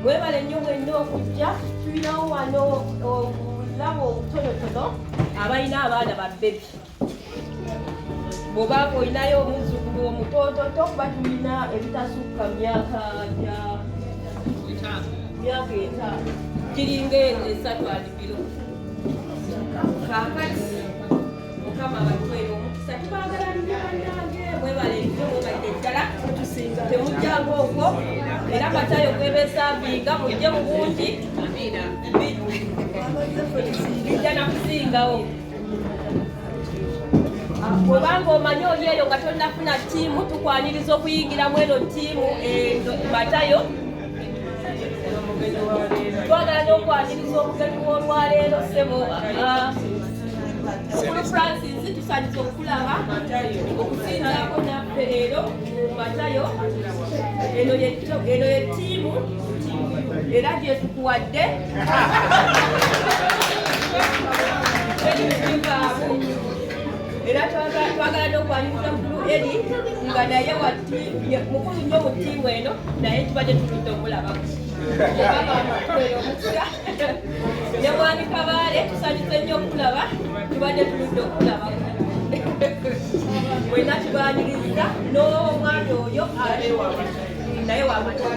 mwebale nnyo mwenna okujja tulinawo wano obulabo obutonotono abalina abaana babebi bwoba olinayo omuzzukulu omutoototo kuba tulina ebitasukka myaka gya myaka etaano giringa esatu alibiro kakati mukama abatwere omukisa tubagala nyaanange mwebale nyo mwebalire ddala temujjangu okwo era matayo kwebesavinga mujje mu bungi bijja nakusingawo bwebanga omanyi oli eyo nga tonafuna tiimu tukwaniriza okuyingiramu eno tiimu eh, matayo twagala n'okwaniriza omugenyi w'olwaleero sebo mukulu francis tusanyiza okulaba okusinzako naffe leero matayo eno yettiimu era gyetukuwadde era twagala n'okwaniriza mukulu eri nga naye wati mukulu nnyo mu ttiimu eno naye tubadde tuludde omulabako ne mwami kabaale tusanyuse nnyo okulaba tubadde tuludde okulabako mwena tubaniriza n'omwana oyo alewa naye wamatwaa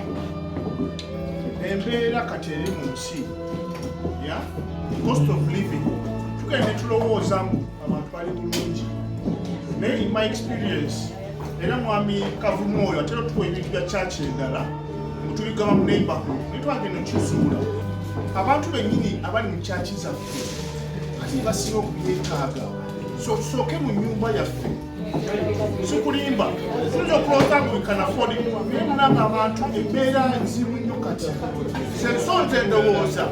embeera kati eri mu nsi ya cost of living tugenda ne tulowooza mu abantu bali bulungi naye in my experience era mwami kavumu oyo ate otuwa ebintu bya kyaki endala mutubigaba mu neighborhood naye twagenda okizuula abantu bennyini abali mu kyaki zaffe ate basinga okubyetaaga so tusooke mu nyumba yaffe sikulimba tuyinza okulooza ngu wikanafoodi naye mulanga abantu embeera nzibu nnyo kati senso nze ndowooza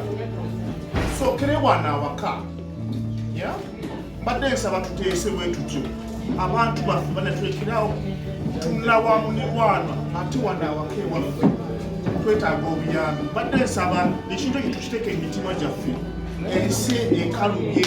sookere wana awaka mbadde nsaba tuteese bwetutyo abantu baffe banatwekerawo tunula wa munirwana ate wana awaka ewaffe twetaaga obuyambi mbadde nsaba ekintu ekyo tukiteeka emitima gyaffe ensi ekalubye